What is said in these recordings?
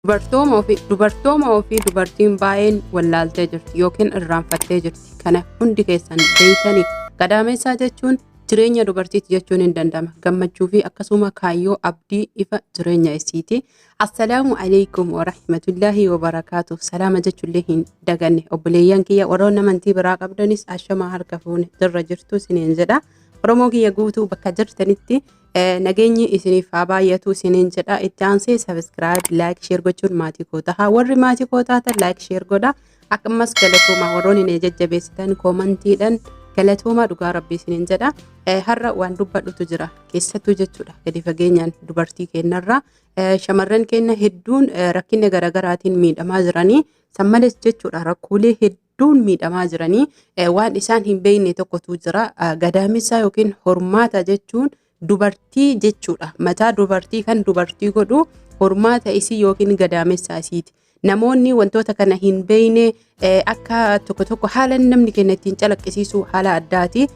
Dubartooma ofii dubartooma ofii dubartiin baay'een wallaaltee jirti yookiin irraanfattee jirti. Kana hundi keessan beeytanii gadaameessaa jechuun jireenya dubartiiti jechuun hin danda'ama. Gammachuu fi akkasuma kaayyoo abdii ifa jireenya isiiti. Assalaamu alaikum wa rahmatullahi wa barakaatu. Salaama jechuullee hin daganne. Obboleeyyan kiyya warroon amantii biraa qabdanis ashamaa harka fuune jirra jirtu isiniin jedha. Oromoo kiyya guutuu bakka jirtanitti Eh, Nageenyi isiniif haa baay'atu isiniin jedha. Itti aansee subscribe, like, share gochuun maatii koo taha. Warri maatii koo taatan like, share godha. Akkasumas galatoomaa warroonni na jajjabeessitan koomantiidhaan galatoomaa dhugaa rabbii isiniin jedha. Eh, Har'a waan dubbadhutu jira keessattuu jechuudha gadi fageenyaan dubartii keenyarraa. Eh, Shamarran keenya hedduun eh, rakkina garaagaraatiin miidhamaa jiranii san malees jechuudha rakkoolee hedduu hedduun miidhamaa jiranii waan isaan hin beekne tokkotu jira. Gadaamessaa yookiin hormaata jechuun dubartii jechuudha. Mataa dubartii kan dubartii godhu hormaata isii yookiin gadaamessaa isiiti. Namoonni wantoota kana hin beekne akka tokko tokko haala namni keenya ittiin calaqqisiisu haala addaati.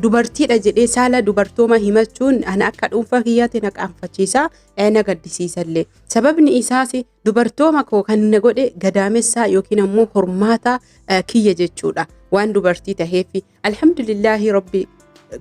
Dubartiidha jedhee saala dubartooma himachuun ana akka dhuunfaa kiyyaatti na qaanfachiisa na gaddisiisallee. Sababni isaas Dubartooma koo kan na godhe gadaamessaa yookiin ammoo hormaata eh, kiyya jechuudha. Waan dubartii taheefi. Alhamdulillaahi Rabbi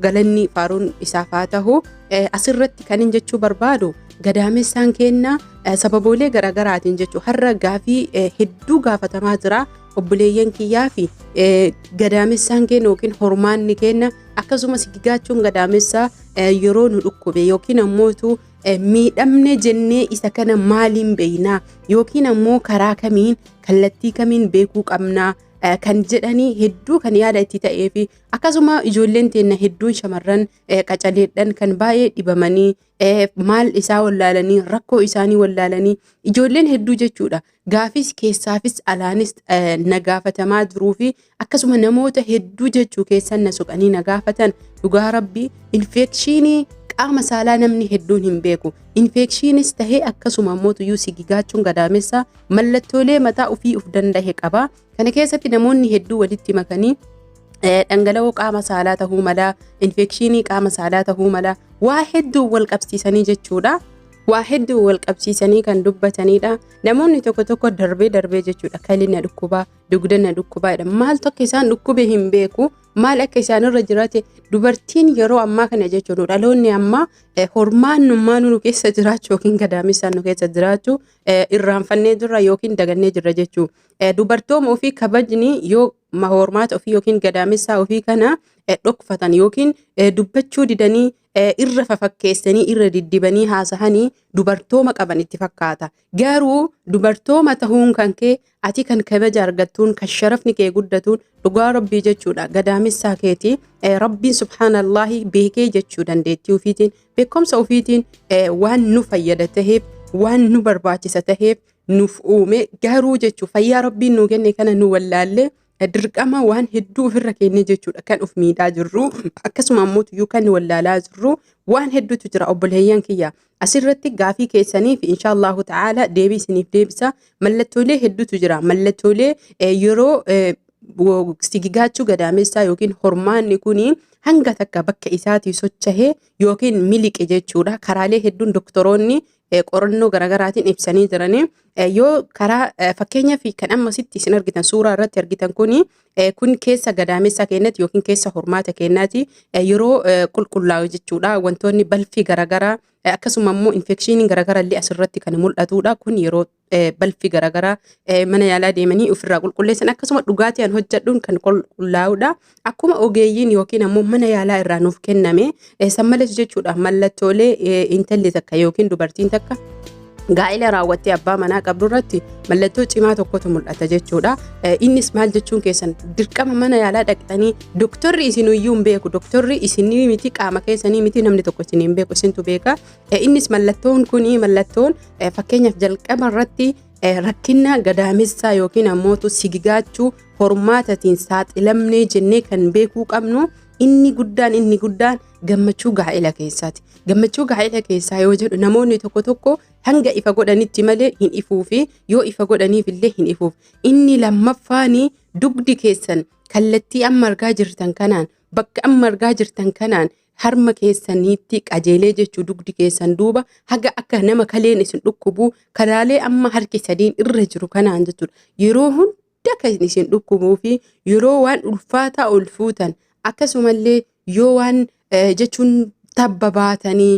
galanni faaruun isaaf haa tahu. Eh, Asirratti kanin jechuu barbaadu gadaamessaan keenna eh, sababoolee garaagaraatiin jechuu har'a gaafii eh, hedduu gaafatamaa jira. Obboleeyyan kiyyaa fi eh, gadaamessaan keenya yookiin hormaanni keenya akkasumas gigaachuun gadaamessaa eh, yeroo nu dhukkube yookiin ammoo utuu eh, miidhamne jennee isa kana maaliin beeynaa yookiin ammoo karaa kamiin kallattii kamiin beekuu qabnaa eh, kan jedhanii hedduu kan yaada itti ta'ee fi akkasuma ijoolleen teenna hedduun shamarran eh, qacaleedhan kan baay'ee dhibamanii eh, maal isaa wallaalanii rakkoo isaanii wallaalanii ijoolleen hedduu jechuudha Gaafiis keessaafis alaanis na gaafatamaa jiruu fi akkasuma namoota hedduu jechuu keessan na soqanii na gaafatan dhugaa rabbii infeekshiinii qaama saalaa namni hedduun hin beeku. Infeekshiinis tahee akkasuma immoo tuyyuu sigigaachuun gadaamessa mallattoolee mataa ofii of danda'e qaba. Kana keessatti namoonni hedduu walitti makanii dhangala'oo qaama saalaa ta'uu mala, infekshinii qaama saalaa ta'uu mala, waa hedduu wal qabsiisanii jechuudha. Waa hedduu wal qabsiisanii kan dubbatanidha. Namoonni tokko tokko darbee darbee jechuudha. Kalli na dhukkuba, dugda na dhukkuba jedha. Maaltu akka isaan dhukkube hin beeku. Maal akka isaanirra jiraate dubartiin yeroo ammaa kana jechuudha. Dhaloonni ammaa hormaannummaa nu keessa jiraachu yookiin gadaamessaan nu keessa jiraachu irraanfannee jirra yookiin dagannee jirra jechuudha. Eh, Dubartooma ofii kabajni yoo ma- hormaata ofii yookiin gadaamessaa ofii kana eh, dhokfatan yookiin eh, dubbachuu didanii eh, irra fafakkeessanii irra diddibanii haasahanii dubartooma qaban itti fakkaata. Garuu dubartooma tahuun kan kee ati kan kabaja argattuun kan sharafni kee guddatuun dhugaa rabbii jechuudha gadaamessaa keeti eh, rabbiin subhaanallaahi beekee jechuu dandeettii ofiitiin beekumsa ofiitiin eh, waan nu fayyada taheef waan nu barbaachisa taheef nuuf uume garuu jechuun fayyaa rabbiin nuu kenne kana nu wallaallee dirqama waan hedduu ofirra kennee jechuudha kan of miidhaa jirru akkasuma ammoo tuyyuu kan wallaalaa jirru waan hedduutu jira obboleeyyan kiyya asirratti gaafii keessaniif inshaallahu ta'ala deebii isiniif deebisa mallattoolee hedduutu jira mallattoolee yeroo sigigaachuu gadaamessaa yookiin hormaanni kun hanga takka bakka isaatii sochahee yookiin miliqe jechuudha karaalee hedduun doktoroonni eh, qorannoo garaagaraatiin ibsanii jiranii Eh, yoo karaa eh, fakkeenyaa fi kan amma sitti isin argitan suuraa irratti argitan kuni eh, kun keessa gadaamessa keenyatti yookiin keessa hormaata keenyaati eh, yeroo eh, qulqullaa'u jechuudha wantoonni balfii garaagaraa eh, akkasuma immoo infekshiiniin garaagaraa illee asirratti kan mul'atudha kun yeroo eh, balfi garaagaraa eh, mana yaalaa deemanii ofirraa qulqulleessan akkasuma dhugaatii an hojjedhuun kan qulqullaa'udha. Akkuma ogeeyyiin yookiin ammoo mana yaalaa irraa nuuf kenname eh, san malees jechuudha mallattoolee eh, intalli takka yookiin dubartiin takka gaa'ila raawwattee abbaa manaa qabdu irratti mallattoo cimaa tokkotu mul'ata jechuudha. Eh, Innis maal jechuun keessan dirqama mana yaalaa dhaqxanii doktorri isin iyyuu hin beeku doktorri isinii miti qaama keessanii miti namni tokko isin hin beeku isintu beeka Innis mallattoon kun mallattoon fakkeenyaaf jalqaba irratti rakkina gadaamessaa yookiin ammoo sigigaachuu hormaatatiin saaxilamnee jennee kan beekuu qabnu inni guddaan inni guddaan gammachuu gaa'ela keessaati. Gammachuu gaa'ela keessaa yoo jedhu namoonni tokko tokko hanga ifa godhanitti malee hin ifuufi yoo ifa godhaniif illee hin ifuuf. Inni lammaffaan dugdi keessan kallattii amma argaa jirtan kanaan bakka amma argaa jirtan kanaan harma keessaniitti qajeelee jechuu dugdi keessan duuba haga akka nama kaleen isin dhukkubuu karaalee amma harki sadiin irra jiru kanaan jechuudha yeroo hunda kan isin dhukkubuu fi yeroo waan ulfaataa ol fuutan akkasumallee yoo waan jechuun tabba baatanii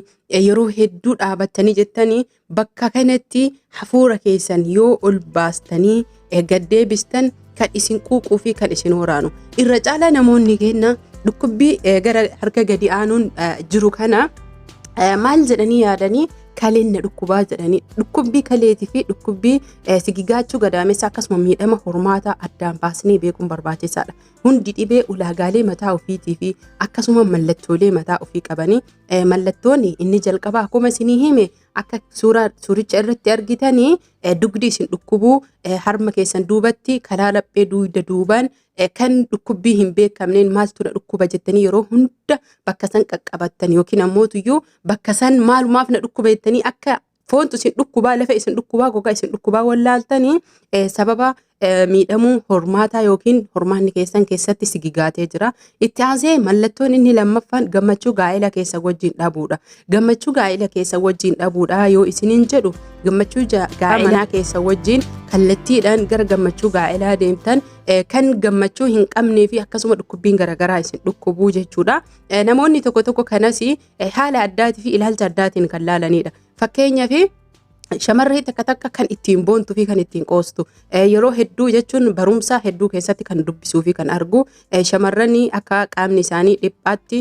yeroo hedduu dhaabattanii jettanii Bakka kanatti hafuura keessan yoo ol baastanii gad deebistan kan isin quuquu fi kan isin waraanu. Irra caalaa namoonni keenya dhukkubbii gara harka gadi aanuun jiru kana maal jedhanii yaadanii kaleen na dhukkubaa jedhanii dhukkubbii kaleetii fi dhukkubbii sigigaachuu gadaamessa akkasuma miidhama hormaataa addaan baasnee beekuun barbaachisaadha. Hundi dhibee ulaagaalee mataa ofiitii fi akkasuma mallattoolee mataa ofii qabanii Eh, mallattoon inni jalqabaa akkuma isinii hime akka suuraa suuricha irratti argitanii eh, dugdi isin dhukkubuu eh, harma keessan duubatti karaa laphee duuda duubaan eh, kan dhukkubbii hin beekamneen maaltu na dhukkuba jettanii yeroo hunda bakka san qaqqabattan yookiin ammootuyyuu bakka san maalumaaf na dhukkuba jettanii akka foontu isin dhukkubaa lafa isin dhukkubaa gogaa isin dhukkubaa wallaaltanii eh, sababa eh, miidhamuu hormaataa yookiin hormaanni keessan keessatti sigigaatee jira. Itti aansee mallattoon inni lammaffaan gammachuu gaa'ela keessa wajjin dhabuudha. Gammachuu gaa'ela keessa wajjin dhabuudha yoo isiniin jedhu gammachuu ja- gaa'ela manaa keessa wajjin kallattiidhaan gara gammachuu gaa'elaa deemtan eh, kan gammachuu hin qabnee fi akkasuma dhukkubbiin garaagaraa isin dhukkubuu jechuudha. Eh, Namoonni tokko tokko kanas haala addaatii fi ilaalcha addaatiin kan laalanidha. Fakkeenyaaf shamarree takka takka kan ittiin boontuu fi kan ittiin qoostu yeroo hedduu jechuun barumsaa hedduu keessatti kan dubbisuu fi kan argu shamarran akka qaamni isaanii dhiphaatti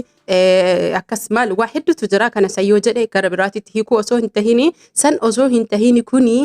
akkas maal waa hedduutu jira kana san yoo jedhe gara biraatitti hiikuu osoo hin tahini san osoo hin tahini kuni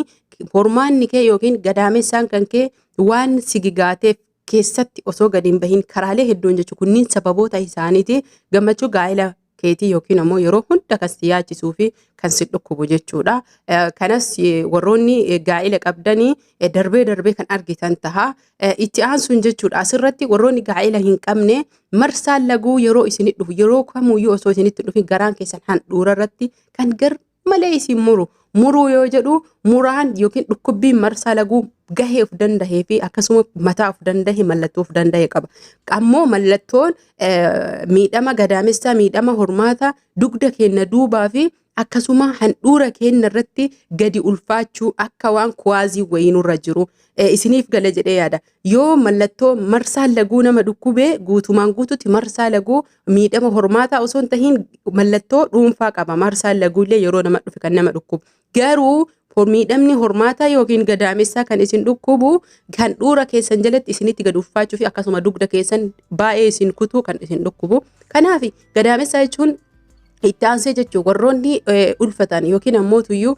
hormaanni kee yookiin gadaamessaan kan kee waan sigigaateef keessatti osoo gadi hin bahin karaalee hedduun jechuun kunniin sababoota isaaniiti gammachuu gaa'ela keetii yookiin ammoo yeroo hunda kan si yaachisuu fi kan si dhukkubu jechuudha. Eh, Kanas eh, warroonni eh, gaa'ela qabdanii eh, darbee darbee kan argitan taha. Eh, Itti aansuun jechuudha asirratti warroonni gaa'ela hin qabne marsaan laguu yeroo isinitti dhufu yeroo kamuyyuu osoo isinitti dhufin garaan keessan handhuura irratti kan gar malee isin muru. Muruu yoo jedhu muraan yookiin dhukkubbiin marsaa laguu gahee of dandahee fi akkasuma mataa of dandahe mallattoo of dandahe qaba. Ammoo mallattoon miidhama gadaamessaa, miidhama hormaata dugda keenna duubaa fi akkasuma handhuura keenna irratti gadi ulfaachuu akka waan kuwaazii wayii nurra jiru isiniif gala jedhee yaada. Yoo mallattoo marsaan laguu nama dhukkubee guutumaan guututti marsaa laguu miidhama hormaataa osoo hin tahin mallattoo dhuunfaa qaba marsaan laguullee yeroo nama dhufe kan nama dhukkubu garuu miidhamni hormaataa yookiin gadaamessaa kan isin dhukkubu kan dhuura keessan jalatti isinitti gad uffaachuu fi akkasuma dugda keessan baay'ee isin kutuu kan isin dhukkubu kanaaf gadaamessaa jechuun itti aansee jechuun warroonni ulfatan yookiin ammoo tuyyuu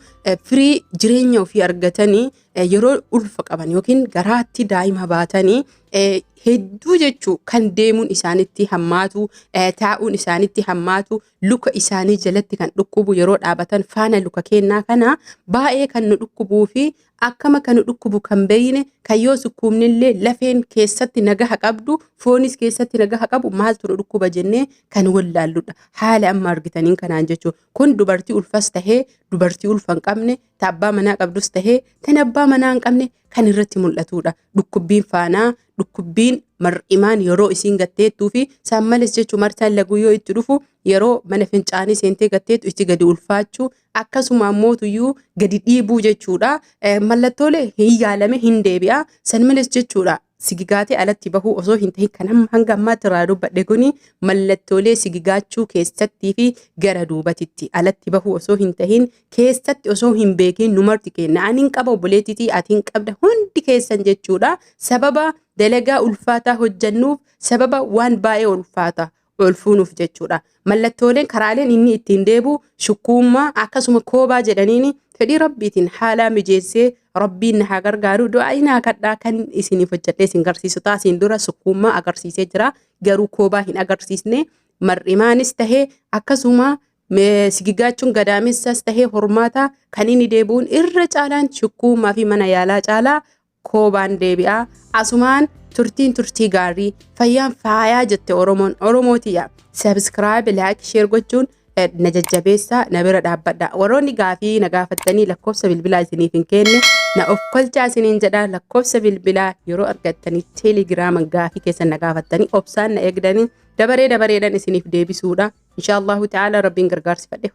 firii jireenya ofii argatanii eh, yeroo ulfa qaban yookiin garaatti daa'ima baatanii eh, hedduu jechuu kan deemuun isaanitti hammaatu eh, taa'uun isaanitti hammaatu luka isaanii jalatti kan dhukkubu yeroo dhaabatan faana luka kennaa kana baay'ee kan nu dhukkubuu fi akkama kan nu dhukkubu kan beeyne kan yoo sukkuumnillee lafeen keessatti nagaha qabdu foonis keessatti nagaha qabu maaltu nu dhukkuba jennee kan wallaalludha haala amma argitaniin kanaan jechuudha kun dubartii ulfas tahee dubartii ulfa hin qabne ta abbaa manaa qabdus tahee tan abbaa manaa hin qabne kan irratti mul'atuudha. Dhukkubbiin faanaa, dhukkubbiin mar'imaan yeroo isiin gatteettuu fi saan males jechuu martaan laguu yoo itti dhufu yeroo mana fincaanii seentee gatteettu itti gadi ulfaachuu akkasuma ammoo tuyyuu gadi dhiibuu jechuudha. Mallattoolee hin yaalame hin deebi'a. San males jechuudha. Sigigaatee alatti bahuu osoo hin tahin kan amma hanga ammaatti irraa dubbadhe kuni mallattoolee sigigaachuu keessattii fi gara duubatitti alatti bahuu osoo hin tahin keessatti osoo hin beekin numarti kenna. Ani hin qaba obboleettitii ati hin qabda hundi keessan jechuudha. Sababa dalagaa ulfaataa hojjannuuf sababa waan baay'ee ulfaataa ol fuunuuf jechuudha. Mallattooleen karaaleen inni ittiin deebi'u shukkuummaa akkasuma koobaa jedhaniini fedhii rabbiitiin haalaa mijeessee rabbiin na haa gargaaru du'aa inaa kadhaa kan isiniif hojjedhee isin garsiisu taasiin dura shukkuummaa agarsiisee jira garuu koobaa hin agarsiisne mar'imaanis tahee akkasuma me- sigigaachuun gadaamessas tahee hormaataa kan inni deebi'uun irra caalaan shukkuummaa fi mana yaalaa caalaa koobaan deebi'a asumaan turtiin turtii gaarii fayyaan faayaa jette oromoon oromoo tiyya sabskraayib laayik sheer gochuun eh, na jajjabeessaa na bira dhaabbadha warroonni gaafii na gaafattanii lakkoofsa bilbilaa isiniif hin kenne na of kolchaa isiniin jedha lakkoofsa bilbilaa yeroo argattanii teelegiraaman gaafii keessan na gaafattanii obsaan na eegdanii dabaree dabareedhaan isiniif deebisuudha insha allahu ta'ala rabbiin gargaarsifadhe